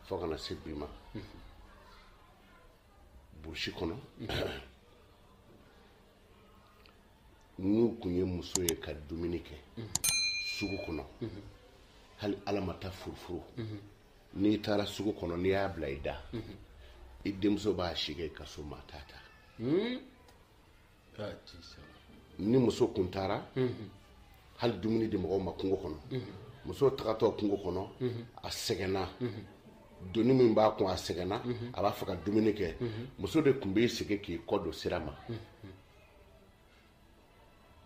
fo ka na se bi ma burusi kɔnɔ n'u kun ye muso ye ka dumuni kɛ sugu kɔnɔ hali ala ma taa furufuru n'i taara sugu kɔnɔ n'i y'a bila i da i denmuso b'a si kɛ i ka so maa t'a ta hmm? ni muso kun taara hali dumuni di mɔgɔw ma kungo kɔnɔ muso tagatɔ kungo kɔnɔ a sɛgɛnna doni min b'a kun a sɛgɛnna mhm. a b'a fɛ ka dumuni kɛ mhm. muso de kun b'i sigi k'i kɔ don sira ma mhm.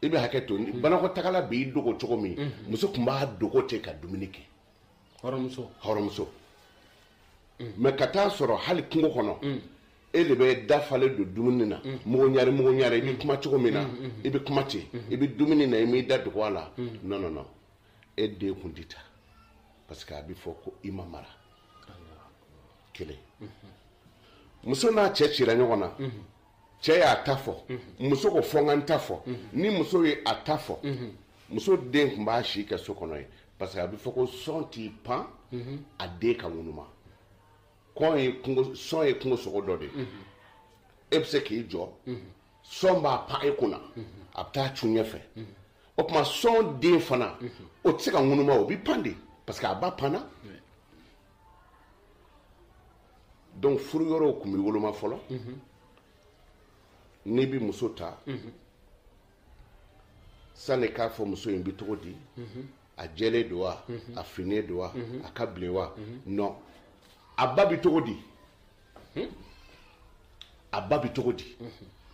i bɛ hakɛ to banakɔtagala b'i dogo cogo min muso kun b'a dogo ten ka dumuni kɛ hɔrɔnmuso hɔrɔnmuso mɛ ka taa sɔrɔ hali kungo kɔnɔ e de bɛ da falen don dumuni na mugu ɲari mugu ɲari i bɛ kuma cogo min na i bɛ kuma ten i bɛ dumuni na i m'i da dogo a la non non non e den kun tɛ ta parce que a bɛ fɔ ko i ma mara kelen muso n'a cɛ cira ɲɔgɔn na cɛ y'a ta fɔ muso ko fo n ka n ta fɔ ni muso ye a ta fɔ muso den kun b'a si kɛ so kɔnɔ yen parce que a bɛ fɔ ko sɔn t'i pan a den ka ŋunuma sɔn ye kungo sɔn ye kungo sogo dɔ de ye e bɛ se k'i jɔ sɔn b'a pan e kunna a bɛ taa cun ɲɛfɛ o tuma sɔn den fana o tɛ se ka ŋunuma o bɛ pan de parce que a ba panna donc furu yɔrɔw kun bɛ woloma fɔlɔ n'i bɛ muso ta sani k'a fɔ muso in bɛ cogo di a jɛlen don wa a finnen don wa a ka bilen wa non a ba bɛ cogo di hmm? a ba bɛ cogo di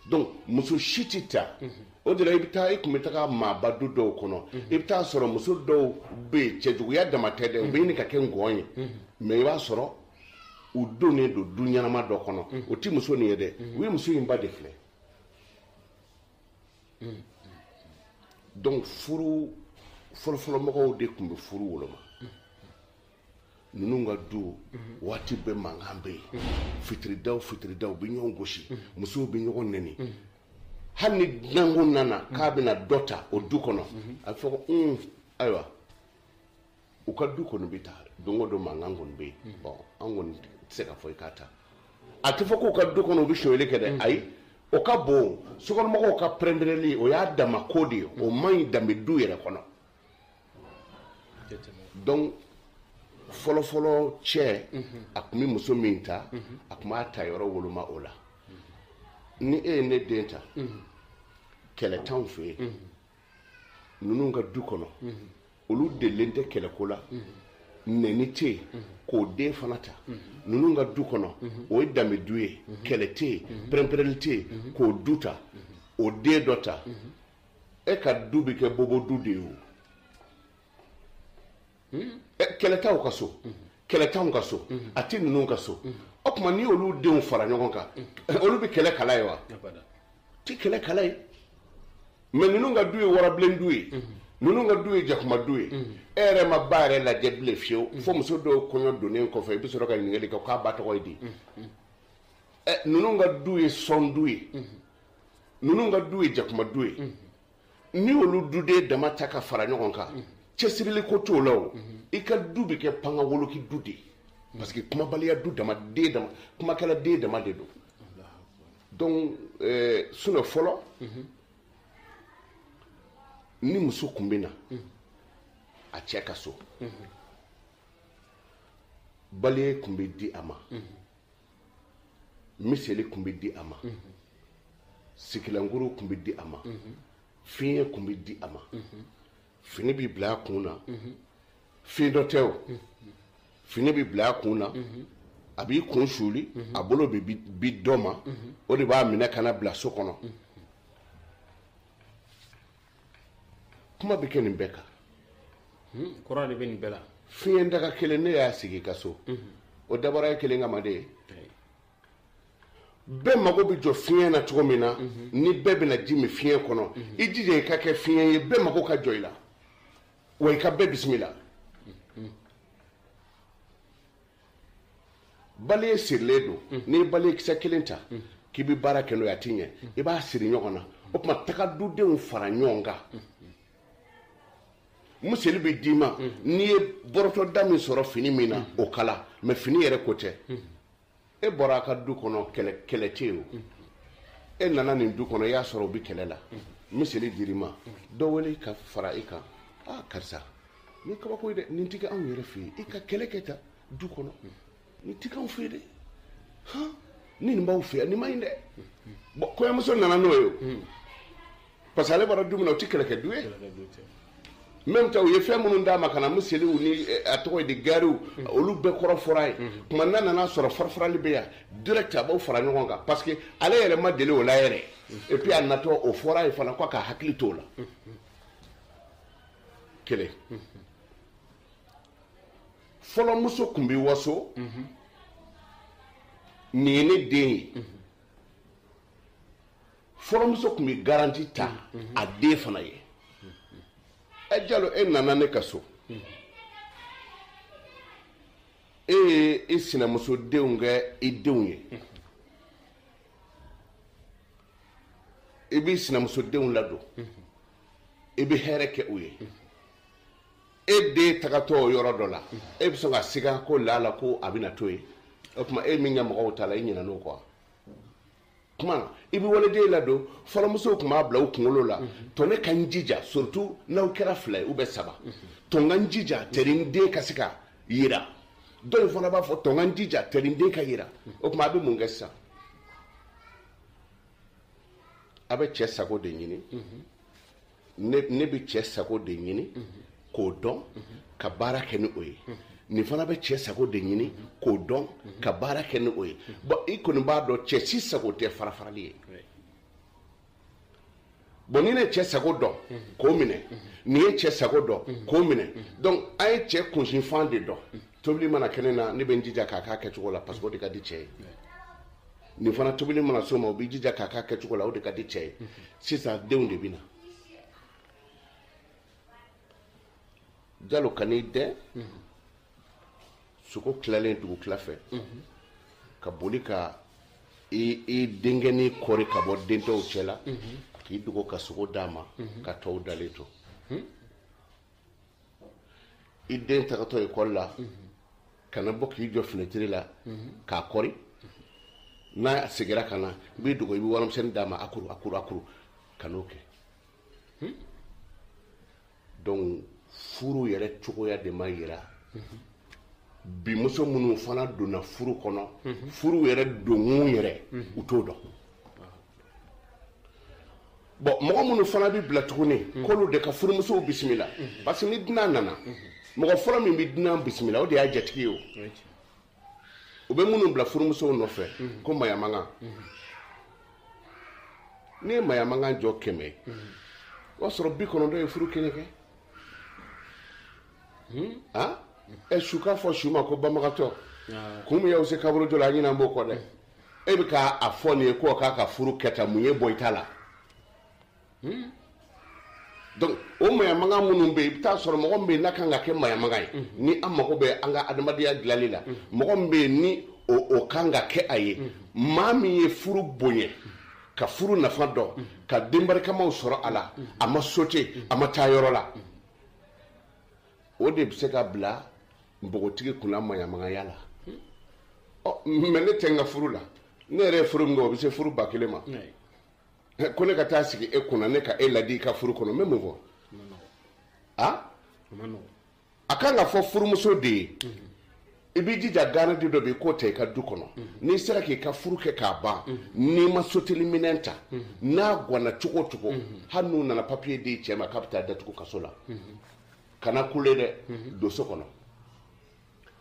donc muso si tɛ ta o de la i bɛ taa i kun bɛ taga maaba du dɔw kɔnɔ i bɛ taa sɔrɔ muso dɔw bɛ yen cɛjuguya dama tɛ dɛ u bɛ ɲini ka kɛ ngɔn ye mɛ i b'a sɔrɔ u donnen don du ɲɛnama dɔ kɔnɔ o tɛ muso nin ye dɛ u ye muso in ba de filɛ donc furu fɔlɔfɔlɔmɔgɔw de kun bɛ furu woloma ninnu ka du waati bɛɛ mankan bɛ yen fitirida fitirida u bɛ ɲɔgɔn gosi musow bɛ ɲɔgɔn nɛni hali ni dunankɛ nana k'a bɛna dɔ ta o du kɔnɔ a bɛ fɔ ko un ayiwa u ka du kɔni bɛ tan don o don mankan kɔni bɛ yen bɔn an kɔni tɛ se k'a fɔ i k'a ta a tɛ fɔ k'u ka du kɔnɔ u bɛ sonyali kɛ dɛ ayi o ka bon sokɔnɔmɔgɔw ka pɛrɛnpɛrɛnni o y'a dama ko de ye o man ɲi danbe du yɛrɛ kɔnɔ donc fɔlɔfɔlɔ cɛ a tun bɛ muso min ta a tun b'a ta yɔrɔ woloma o la ni e ye ne den ta kɛlɛ t'anw fɛ yen ninnu ka du kɔnɔ olu delilen tɛ kɛlɛko la nɛni tɛ yen k'o den fana ta ninnu ka du kɔnɔ o ye danbe du ye kɛlɛ tɛ yen pɛrɛnpɛrɛnli tɛ yen k'o du ta o den dɔ ta e ka du bɛ kɛ bobo du de ye o hmm? kɛlɛ t'aw ka so hmm. kɛlɛ t'anw ka so hmm. a tɛ ninnu ka so o tuma n'i y'olu denw fara ɲɔgɔn kan olu bɛ kɛlɛ kala ye wa u tɛ kɛlɛ kala ye mais ninnu ka du ye warabilen du ye ninnu ka du ye jakuma du ye e yɛrɛ m'a ba yɛrɛ lajɛ bilen fewu fo muso dɔw kɔɲɔ donnen kɔfɛ i bɛ sɔrɔ ka ɲininkali kɛ k'a ba tɔgɔ ye di ninnu ka du ye son du ye ninnu ka du ye jakuma du ye n'i y'olu duden dama ta ka fara ɲɔgɔn kan cɛsirili ko t'o la o i ka du bɛ kɛ pangawoloki du de ye parce que kumabaliya du dama den dama kumakɛla den dama de don donc euh, sinon fɔlɔ ni muso kun bɛ na a cɛ ka so bale kun bɛ di a ma miseli tun bɛ di a ma sigilankurun tun bɛ di a ma fiɲɛ tun bɛ di a ma fini bɛ bila a kun na fiyentɔ tɛ o fini bɛ bila a kun na a b'i kun suuli a bolo bɛ di dɔ ma o de b'a minɛ ka n'a bila so kɔnɔ kuma bɛ kɛ nin bɛɛ kan hmm, kɔrɔ de bɛ nin bɛɛ la fiɲɛ daga kelen n'e y'a sigi i ka so hmm. o dabɔra e kelen kama de ye bɛɛ mago bɛ jɔ fiɲɛ na cogo min na hmm. ni bɛɛ bɛna ji min fiɲɛ kɔnɔ i jija i ka kɛ fiɲɛ ye bɛɛ mago ka jɔ i la wa i ka bɛɛ bisimila bale sirilen don mm. n'i ye bale kisɛ kelen ta mm. k'i bɛ baara kɛ n'o ye a tɛ ɲɛ mm. i b'a siri ɲɔgɔn na o tuma taga dudenw fara ɲɔgɔn kan miseli bɛ d'i ma n'i ye bɔrɔtɔ da min sɔrɔ fini min na o kala mais fini yɛrɛ ko tɛ e bɔra a ka du kɔnɔ kɛlɛ tɛ yen o e nana nin du kɔnɔ i y'a sɔrɔ o bɛ kɛlɛ la miseli dir'i ma dɔ wele ka fara i kan aa karisa nin kabako ye dɛ nin tɛ kɛ anw yɛrɛ fɛ yen e ka kɛlɛ kɛ tan du kɔnɔ nin tɛ k'anw fɛ yen dɛ han ni nin b'aw fɛ yan nin ma ɲi dɛ bon kɔɲɔmuso nana n'o ye o parce que ale bɔra du min na o tɛ kɛlɛkɛ du ye même temps u ye fɛn minnu d'a ma ka na miseliw ni eh, a tɔgɔ ye di gariw olu bɛɛ kɔrɔ fɔr'a ye o tuma n'a nana sɔrɔ farafarali bɛ yan direct a b'aw fara ɲɔgɔn kan parce que ale yɛrɛ ma deli o la yɛrɛ et puis a natɔ o fɔr'a ye fana ko a k'a hakili to o la kelen fɔlɔmuso tun bɛ waso nin ye ne den ye fɔlɔmuso tun bɛ garanti ta a den fana ye ɛ eh, jalo e nana ne ka so e ye i sinamuso denw kɛ i denw ye i b'i sinamuso denw ladon i bɛ hɛrɛ kɛ u ye e den tagatɔ o yɔrɔ dɔ la e bɛ sɔn ka siga ko laala ko a bɛna to yen o tuma e min kɛ mɔgɔw ta la i ɲinɛna o kɔ wa tuma i bɛ waliden ladon fɔlɔmusow tun b'a bila u kunkolo la to ne ka n jija surtout n'aw kɛra fila ye u bɛ saba to n ka n jija tɛri n den ka se ka yira dɔ in fana b'a fɔ to n ka n jija tɛri n den ka yira o tuma a bɛ mun kɛ sisan a bɛ cɛ sago de ɲini ne bɛ cɛ sago de ɲini k'o dɔn ka baara kɛ ni o ye nin fana bɛ cɛ sago de ɲini k'o dɔn ka baara kɛ ni o ye bɔn i kɔni b'a dɔn cɛ si sago tɛ farafarali ye bɔn ni ne cɛ sago dɔn k'o minɛ nin ye cɛ sago dɔn k'o minɛ donc an ye cɛ kunsinfan de dɔn tobili mana kɛ ne na ne bɛ n jija k'a k'a kɛcogo la parce que o de ka di cɛ ye nin fana tobili mana s'o ma o b'i jija k'a k'a kɛcogo la o de ka di cɛ ye sisan denw de bɛ na jalo ka n'i dɛn sogo tilalen dugutila fɛ ka boli ka i i denkɛnin kɔri ka bɔ den tɔw cɛ la k'i dogo ka sogo d'a ma ka tɔw dalen to i den tagatɔ ekɔli la ka na bɔ k'i jɔ finɛtiri la k'a kɔri n'a segira ka na i b'i dogo i bɛ warimisɛnnin d'a ma a kuru a kuru a kuru kan'o kɛ hmm? donc furu yɛrɛ cogoya de ma yira bi muso minnu fana donna furu kɔnɔ furu yɛrɛ donkun yɛrɛ u t'o dɔn bɔn mɔgɔ minnu fana bɛ bila tuguni mm. k'olu de ka furumusow bisimila mm-hmm. parce que ni dunan nana mm-hmm. mɔgɔ fɔlɔ min bɛ dunan bisimila o de y'a jatigi ye o u bɛ minnu bila furumusow nɔfɛ mm-hmm. ko maɲamagan n'i ye maɲamagan jɔ kɛmɛ ye o y'a sɔrɔ bi kɔnɔntɔn ye furu kelen kɛ hmm? ɛ su k'a fɔ su ma ko banbagatɔ ah. kun min y'aw se kaburudo la a ɲinɛnen b'o kɔ dɛ e bɛ ka a fɔ nin ye ko a k'a ka furu kɛ tan mun y'e bɔ i ta la hmm? donc o maɲamagan minnu bɛ yen i bɛ taa sɔrɔ mɔgɔ min bɛ yen n'a kan ka kɛ maɲamagan ye ni an mago bɛ an ka adamadenya dilanni la mɔgɔ min bɛ yen ni o o kan ka kɛ a ye maa min ye furu bonya ka furu nafa dɔn ka denbarikamaw sɔrɔ a la a ma sote a ma taa yɔrɔ la o de bɛ se ka bila npogotigi kunna maɲamagaya la ɔ mɛ ne tɛ n ka furu la ne yɛrɛ ye furu min kɛ o bɛ se furu ba kelen ma ko ne ka taa sigi e kunna ne ka e ladi i ka furu kɔnɔ n bɛ mun fɔ a a kan ka fɔ furumuso de ye i b'i jija garandi dɔ bɛ yen k'o ta i ka du kɔnɔ n'i sera k'i ka furu kɛ k'a ban n'i ma soteli minɛn ta n'a gwana cogo o cogo hali n'u nana papiye di cɛ ma k'a bɛ taa datugu kaso la kana kule dɛ don so kɔnɔ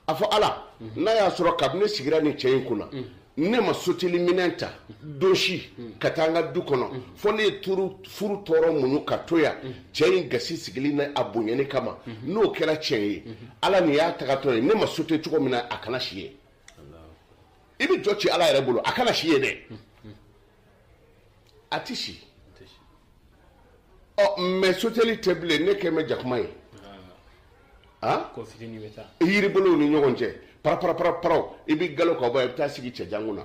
a fɔ ala n'a y'a sɔrɔ kabini ne sigira nin cɛ in kunna ne ma soteli minɛn ta don si ka taa an ka du kɔnɔ fɔ ne ye turu furu tɔɔrɔ muɲu ka to yan cɛ in gasi sigili n'a bonyani kama n'o kɛra tiɲɛ ye ala nin y'a tagatɔ ye ne ma sote cogo min na a kana si yen i bɛ jɔ ci ala yɛrɛ bolo a kana si yen dɛ a tɛ si ɔ mɛ soteli tɛ bilen e kɛn bɛ jakuma ye ah. a yiribolow ni ɲɔgɔn cɛ paraparaparaparaw i bɛ galo ka bɔ i bɛ taa sigi cɛjan kunna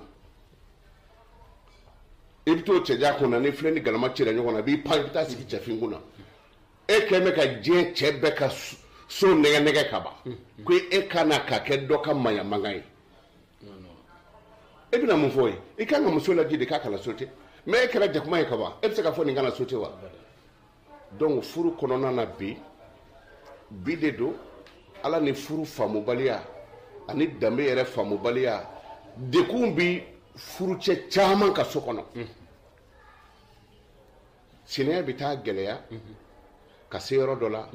i bɛ to cɛjan kunna ni filen ni galama cira ɲɔgɔn na i b'i pan i bɛ taa sigi cɛfin kunna e kɛn bɛ ka diɲɛ cɛ bɛɛ ka so nɛgɛ nɛgɛ ka ban ko e ka na ka kɛ dɔ ka maɲamagan ye e bɛna mun fɔ yen i kan ka muso ladi de k'a kana sote mɛ e kɛra jakuma ye ka ban e bɛ se k'a fɔ nin kana sote wa donc furu kɔnɔna na bi bi de don ala ni furu faamubaliya ani danbe yɛrɛ faamubaliya degun bɛ furucɛ caman ka so kɔnɔ sinaya bɛ taa gɛlɛya ka se yɔrɔ dɔ la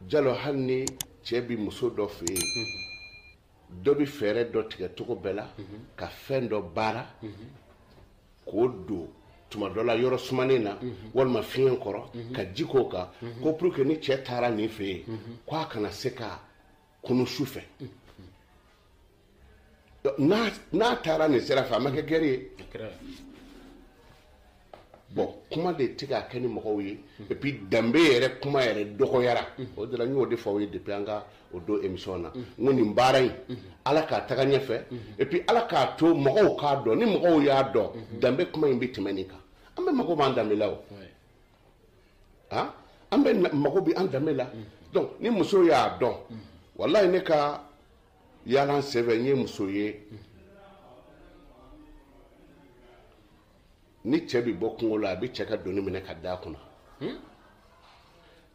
jalo hali ni cɛ bɛ muso dɔ fɛ yen dɔ bɛ fɛɛrɛ dɔ tigɛ cogo bɛɛ la ka fɛn dɔ baara k'o don tuma dɔ la yɔrɔ sumanen na walima fiɲɛ kɔrɔ ka ji k'o kan ko pour que ni cɛ taara nin fɛ yen k'a kana se ka kunun su fɛ n'a taara nin sira fɛ a ma kɛ gɛrɛ ye bɔn kuma de tɛ ka kɛ ni mɔgɔw ye et puis danbe yɛrɛ kuma yɛrɛ dɔgɔyara o de la n y'o de fɔ aw ye depuis an ka o don émission na n ko nin baara in ala k'a taga ɲɛfɛ et puis ala k'a to mɔgɔw k'a dɔn ni mɔgɔw y'a dɔn danbe kuma in bɛ tɛmɛ nin kan an bɛɛ mago b'an danbe la o ah an bɛɛ mago bɛ an danbe la donc ni muso y'a dɔn walayi ne ka yaala senfɛ n ye muso ye ni cɛ bɛ bɔ kungo la a bɛ cɛ ka doni minɛ k'a da a kun na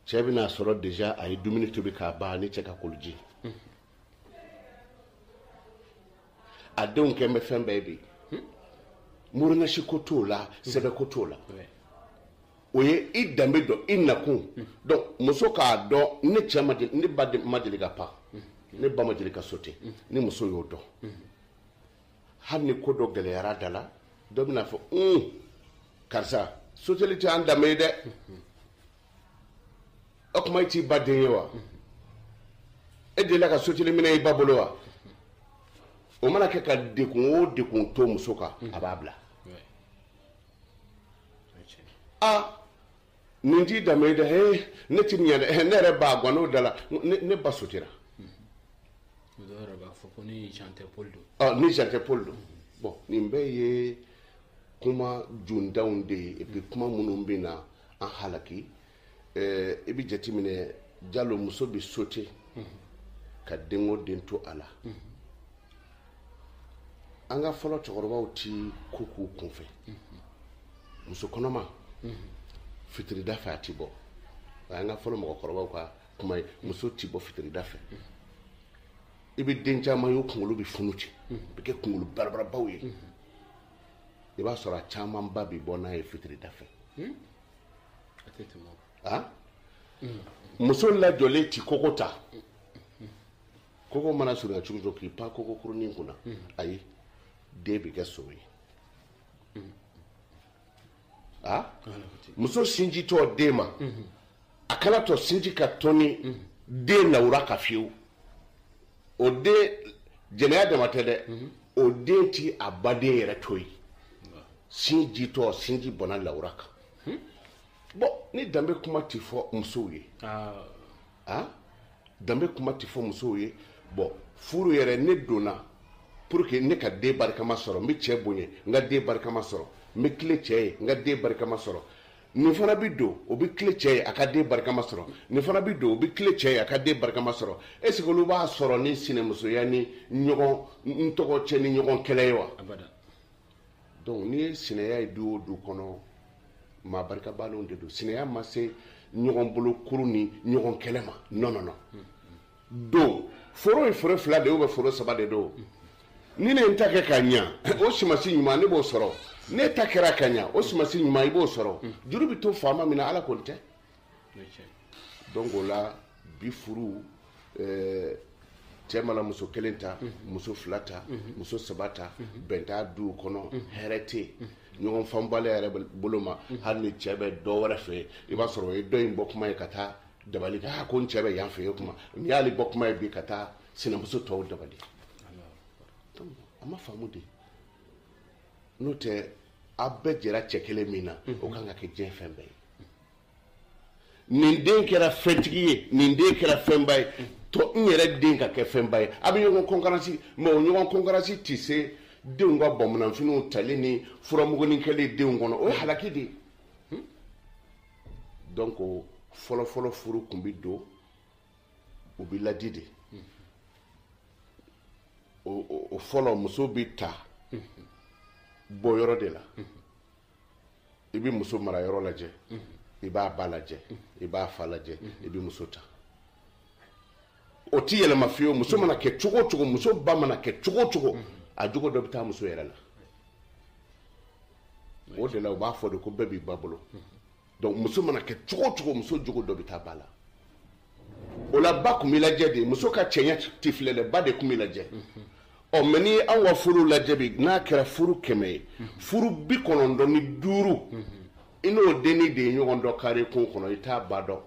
cɛ bɛna sɔrɔ deja a ye dumuni tobi k'a ban ni cɛ ka koliji a denw kɛ bɛ fɛn bɛɛ bi mori nasi ko t'o la sɛbɛn ko t'o la o ye i danbe dɔn i nakun dɔn muso k'a dɔn ne cɛ ma deli ne ba de- ma deli ka pan ne ba ma deli ka sote ni muso y'o dɔn hali ni ko dɔ gɛlɛyara da la dɔ bɛna fɔ un karisa soteli tɛ an danbe ye dɛ o kuma i t'i ba den ye wa e delila ka soteli minɛ i ba bolo wa o mana kɛ ka degun o degun to muso kan a b'a bila a nin t'i danbe ye dɛ he ne ti ɲɛ dɛ ne yɛrɛ ba gann'o da la ne ba sotera dɔw yɛrɛ b'a fɔ ko ni jean tɛ paul don ni jean tɛ paul don bɔn nin bɛɛ ye kuma jondanw de ye epi kuma minnu bɛna an halaki eh, i bɛ jateminɛ jalo muso bɛ sote ka denko den to a la an ka fɔlɔ cɛkɔrɔbaw ti ko kɛ kunfɛ muso kɔnɔma fitirida fɛ a ti bɔ o y'an ka fɔlɔ mɔgɔkɔrɔbaw ka kuma ye muso ti bɔ fitirida fɛ i bɛ den caman ye o kunkolo bɛ funu ten a bɛ kɛ kunkolo barabarabaw ye i b'a sɔrɔ a camanba bɛ bɔ n'a ye fitirida fɛ hmm? ah? hmm. muso lajɔlen ti koko ta hmm. koko mana surunya cogo o cogo k'i pan koko kurunin kunna ayi den bɛ kɛ son ye ah? muso sin ditɔ den ma a kana to sinji ka tɔni den lawura kan fewu o den jɛnɛya dama tɛ dɛ mhm. o den ti a baden yɛrɛ to yen sin ditɔ sinji bɔnna lawura kan hmm? bɔn ni danbe kuma ti fɔ musow ye ah. Ah? danbe kuma ti fɔ musow ye bɔn furu yɛrɛ ne donna pour que ne ka den barikama sɔrɔ n bɛ cɛ bonya n ka den barikama sɔrɔ n bɛ tilen cɛ ye n ka den barikama sɔrɔ nin fana bi don o bi tilen cɛ ye a ka den barikama sɔrɔ nin fana bi don o bi tilen cɛ ye a ka den barikama sɔrɔ est ce que olu b'a sɔrɔ ni sinɛmusoya ni ɲɔgɔn tɔgɔ cɛn ni ɲɔgɔn kɛlɛ ye wa donc n'i ye sinɛya ye du o du kɔnɔ maa barikabaliw de don sinɛya ma se ɲɔgɔn bolo kuru ni ɲɔgɔn kɛlɛ ma non non non don foro ye foro fila de ye foro saba de don ni ne ye n ta kɛ ka ɲa o sumansi ɲuman ne b'o sɔrɔ n'e ta kɛra ka ɲa o sumansi ɲuman i b'o sɔrɔ juru bɛ to faama min na ala kɔni tɛ donc o la bi furu eh, cɛ mana muso kelen ta muso fila ta muso saba ta bɛn t'a duw kɔnɔ hɛrɛ tɛ yen ɲɔgɔn faamubaliya yɛrɛ bolo ma hali ni cɛ bɛ dɔ wɛrɛ fɛ i b'a sɔrɔ o ye dɔ in bɔ kuma ye ka taa dabali kɛ ko n cɛ bɛ yan fɛ ye kuma n'i y'ale bɔ kuma ye bi ka taa sinamuso tɔw dabali a ma faamu de n'o tɛ a bɛɛ jɛra cɛ kelen min na mhm. o kan ka kɛ diɲɛ fɛn bɛɛ ye nin den kɛra fɛntigi ye nin den kɛra fɛnba ye mhm. tɔ n yɛrɛ den ka kɛ fɛnba ye a bɛ ɲɔgɔn kɔnkiransi mɛ o ɲɔgɔn kɔnkiransi tɛ se denw ka bominɛfiniw tali ni furamugunin kɛli denw kɔnɔ o ye halaki de ye donc fɔlɔfɔlɔ furu tun bɛ don u bɛ ladi de o fɔlɔ muso bɛ ta bɔ yɔrɔ de la i bɛ muso mara yɔrɔ lajɛ i b'a ba lajɛ i b'a fa lajɛ i bɛ muso ta o tɛ yɛlɛma fiyewu muso mana kɛ cogo o cogo muso ba mana kɛ cogo o cogo a jogo dɔ bɛ taa muso yɛrɛ la o de la u b'a fɔ de ko bɛɛ b'i ba bolo donc muso mana kɛ cogo o cogo muso jogo dɔ bɛ taa ba la o la ba tun bɛ lajɛ de muso ka cɛɲɛ tɛ filɛ dɛ ba de tun bɛ lajɛ ɔ mɛ ni anw ka furu lajɛ bi n'a kɛra furu kɛmɛ ye furu bi kɔnɔntɔn ni duuru i n'o denni de ye ɲɔgɔn dɔn kare kun kɔnɔ i t'a ba dɔn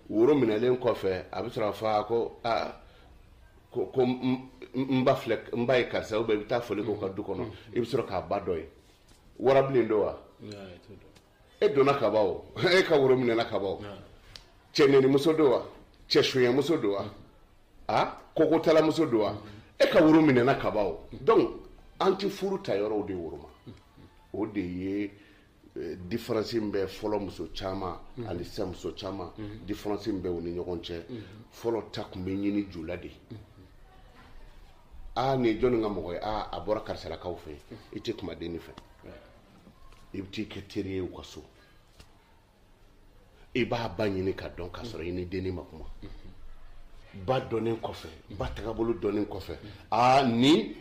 woro minɛlen kɔfɛ a bɛ sɔrɔ a fa ko aa ko ko n ba filɛ n ba ye karisa ubiyɛn i bɛ taa foli k'o ka du kɔnɔ i bɛ sɔrɔ k'a ba dɔn ye warabilen don wa e donna ka ban o e ka woro minɛna ka ban o cɛ nenimuso don wa cɛ sonyɛmuso don wa a kokotalamuso don wa e ka woro minɛna ka ban o donc an tɛ furu ta yɔrɔw de woroma o de ye Eh, diferansi min bɛ fɔlɔ muso caman mhm. ani sisan muso caman mhm. diferansi min bɛ u ni ɲɔgɔn cɛ mhm. fɔlɔ ta tun bɛ ɲini ju la de aa nin ye jɔnni ka mɔgɔ ye aa a bɔra karisalakaw fɛ i tɛ kuma denni fɛ i bɛ t'i kɛ teri ye u ka so i b'a ba ɲini ka dɔn k'a sɔrɔ i ni denni ma kuma ba dɔnnen kɔfɛ ba tagabolo dɔnnen kɔfɛ aa nin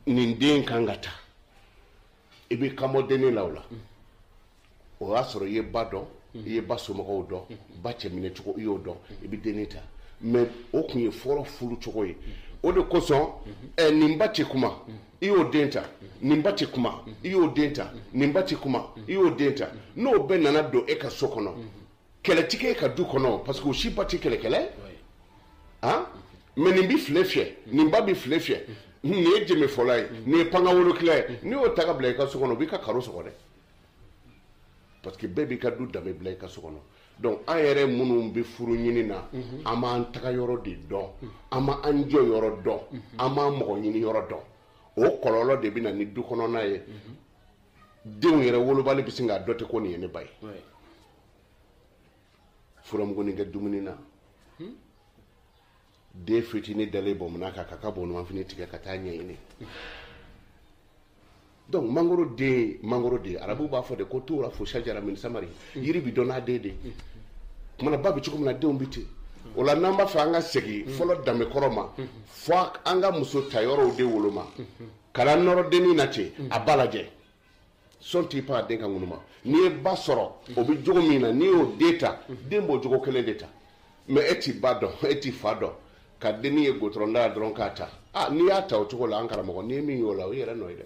nin den kan ka ta i bɛ ka bɔ denni la o la o y'a sɔrɔ i ye ba dɔn i ye ba somɔgɔw dɔn ba cɛminɛ cogo i y'o dɔn i bɛ denni ta mɛ o tun ye fɔlɔ furu cogo ye o de kosɔn ɛ nin ba tɛ kuma i y'o den ta nin ba tɛ kuma i y'o den ta nin ba tɛ kuma i y'o den ta n'o bɛɛ nana don e ka so kɔnɔ kɛlɛtigi ka du kɔnɔ parce que o si ba tɛ kɛlɛkɛla ye han mais nin bɛ file fiyɛ nin ba bɛ file fiyɛ nin ye jɛmɛ fɔla ye nin ye panga wolokila ye n'i y'o ta ka bila i ka so kɔnɔ o b'i ka karo sɔgɔ dɛ parce que bɛɛ b'i ka du danbe bila i ka so kɔnɔ donc an yɛrɛ minnu bɛ furu ɲini na an b'an taga yɔrɔ de dɔn an ma an jɔ yɔrɔ dɔn an b'an mɔgɔ ɲini yɔrɔ dɔn o kɔlɔlɔ de bɛ na ni du kɔnɔna ye denw yɛrɛ wolobali bɛ sin k'a dɔ tɛ ko nin ye ne ba ye furamugunin kɛ dumuni na hmm? den fitinin dalen bɔnmana kan ka ka bɔnmanfini tigɛ ka taa ɲɛɲini donc mangoro den mangoro de arabu b'a fɔ de ko turafu sajara min samari hmm. yiri bi dɔn n'a den de hmm. kumana ba bɛ cogo min na denw bɛ ten o la n'an b'a fɛ an ka segin fɔlɔ danbe kɔrɔ ma fo an ka muso ta yɔrɔw de woloma kana nɔrɔ dennin na ten mm. a ba lajɛ sɔn t'i pan a den ka ŋunuma n'i ye ba sɔrɔ o bɛ jogo min na n'i y'o den ta mm. den b'o jogo kelen de ta mais e t'i ba dɔn e t'i fa dɔn ka dennin ye gudɔrɔn da la dɔrɔn k'a ta ah, n'i y'a ta o cogo la an karamɔgɔ n'i ye min y'o la o y'i yɛrɛ nɔ ye dɛ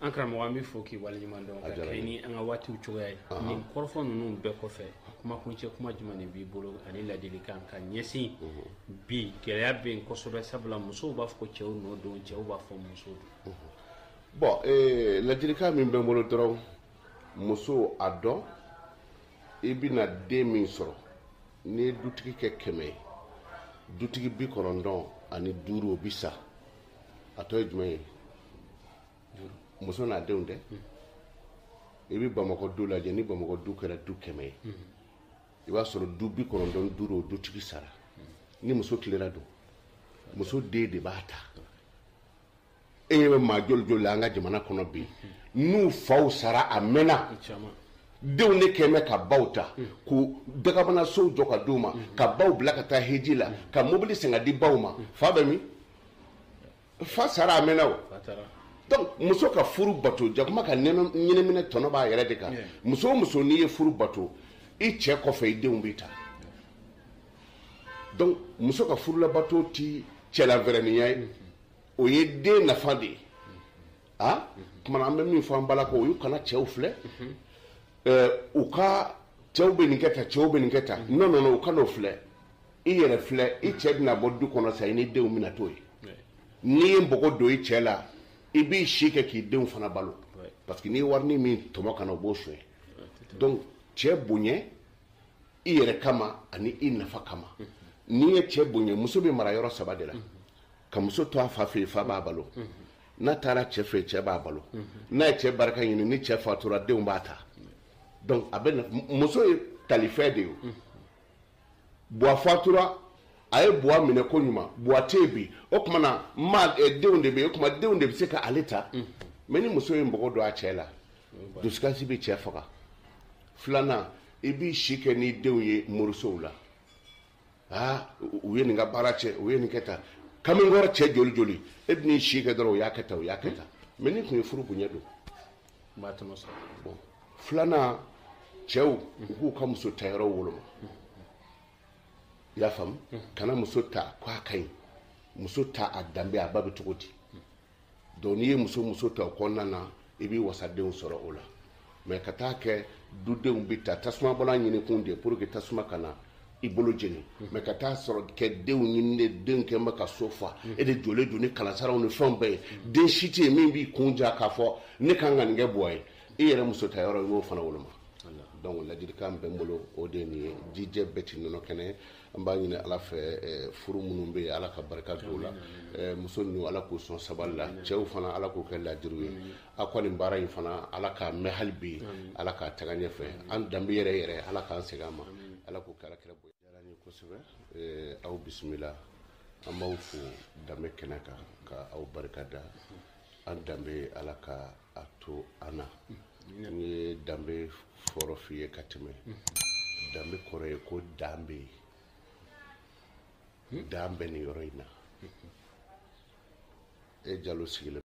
an karamɔgɔ an b'i fo k'i waleɲuman dɔn ka kɛɲɛ ni an ka waatiw cogoya ye nin kɔrɔfɔ ninnu bɛɛ kɔfɛ kumakuncɛ kuma jumɛn de b'i bolo ani ladilikan ka ɲɛsin bi gɛlɛya bɛ yen kosɛbɛ sabula musow b'a fɔ ko cɛw nɔ don cɛw b'a fɔ muso don bon eh, ladilikan min bɛ n bolo dɔrɔn muso a dɔn i bɛna den min sɔrɔ n'i ye dutigi kɛ kɛmɛ ye dutigi bi kɔnɔntɔn ani duuru o bi sa a tɔ ye jumɛn ye muso n'a denw tɛ i bɛ bamakɔ du lajɛ ni bamakɔ du kɛra du kɛmɛ ye i b'a sɔrɔ du bi kɔnɔntɔn duuru o dutigi sara ni muso tilela don muso den de b'a ta e ɲɛ bɛ maa joli joli la an ka jamana kɔnɔ bi n'u faw sara a mɛnna denw de kɛmɛ ka baw ta hmm. k'u dagabanasow jɔ ka di u ma hmm. ka baw bila ka taa hiji la hmm. ka mobili san ka di baw ma fa bɛ min fa sara a mɛnna o donc muso ka furu bato jakuma ka ɲinɛ minɛ tɔnɔ b'a yɛrɛ de kan muso o muso n'i ye furu bato i cɛ kɔfɛ i denw b'i ta donc muso ka furu labato ti cɛ lafɛrɛninya ye o ye den nafa de ye a tuma an bɛ min fɔ an bala ko olu kana cɛw filɛ u ka cɛw bɛ nin kɛ ta cɛw bɛ nin kɛ ta n nana u kana o filɛ i yɛrɛ filɛ i cɛ bɛna bɔ du kɔnɔ sa i ni denw bɛna to yen n'i ye npogo don i cɛ la i b'i si kɛ k'i denw fana balo parce que n'i warinin min tɔmɔ ka na o b'o sonya donc cɛ bonya i yɛrɛ kama ani i nafa kama n'i ye cɛ bonya muso bɛ mara yɔrɔ saba de la ka muso to a fa fɛ yen fa b'a balo n'a taara cɛ fɛ cɛ b'a balo n'a ye cɛ barika ɲini ni cɛ fatura denw b'a ta donc a bɛ muso ye talifɛn de ye buwa fatura a ye buwa minɛ koɲuman buwa tɛ yen bi o tuma na ma eh, denw de bɛ yen o tuma denw de bɛ se ka ale ta mɛ ni muso ye mɔgɔ don a cɛ la dusukasi bɛ cɛ faga filanan i b'i si kɛ n'i denw ye morisow la aa u ye nin ka baara cɛn u ye nin kɛ tan kamalenkɔrɔ cɛ joli joli i bɛn'i si kɛ dɔrɔn u y'a kɛ tan u y'a kɛ tan mɛ n'i tun ye furu bonya dɔn i b'a tɔnɔ sɔrɔ bon filanan cɛw u k'u ka muso ta yɔrɔ woloma i y'a faamu kana muso ta k'a ka ɲi muso ta a danbe a ba bɛ cogo di donc n'i ye muso muso ta o kɔnɔna na i bɛ wasadenw sɔrɔ o la mɛ ka taa kɛ dudenw bɛ ta tasuma bɔlan ɲinikun de pour que tasuma kana i bolo jeni mɛ ka taa sɔrɔ kɛ denw ɲini de denw kɛ bɛ ka so fa e de jɔlen don ni kalansaraw ni fɛnw bɛɛ ye den si tɛ yen min b'i kun ja k'a fɔ ne kan ka nin kɛ buwa ye i yɛrɛ muso ta yɔrɔ i b'o fana woloma donc ladilikan bɛ n bolo o de ye nin ye jijɛ bɛɛ tɛ nɔnɔ kɛnɛ an b'a ɲini ala fɛ eh, furu minnu bɛ ala ka barika don la eh, muso ninnu ala k'u sɔn sabali la cɛw fana ala k'u kɛ ladiriw ye a kɔni baara in fana ala k'a mɛɛn hali bi ala k'a taga ɲɛfɛ an danbe yɛrɛ yɛrɛ ala k'an segin a ma ala k'o kɛ alakira bonya diyara n ye kosɛbɛ eh, aw bisimila an b'aw fo danbe kɛnɛ kan ka aw barika da an danbe ala ka a to an na n ye danbe kɔrɔ f'i ye ka tɛmɛ danbe kɔrɔ ye ko dan bɛ yen dan bɛ nin yɔrɔ in na e jalo sigilen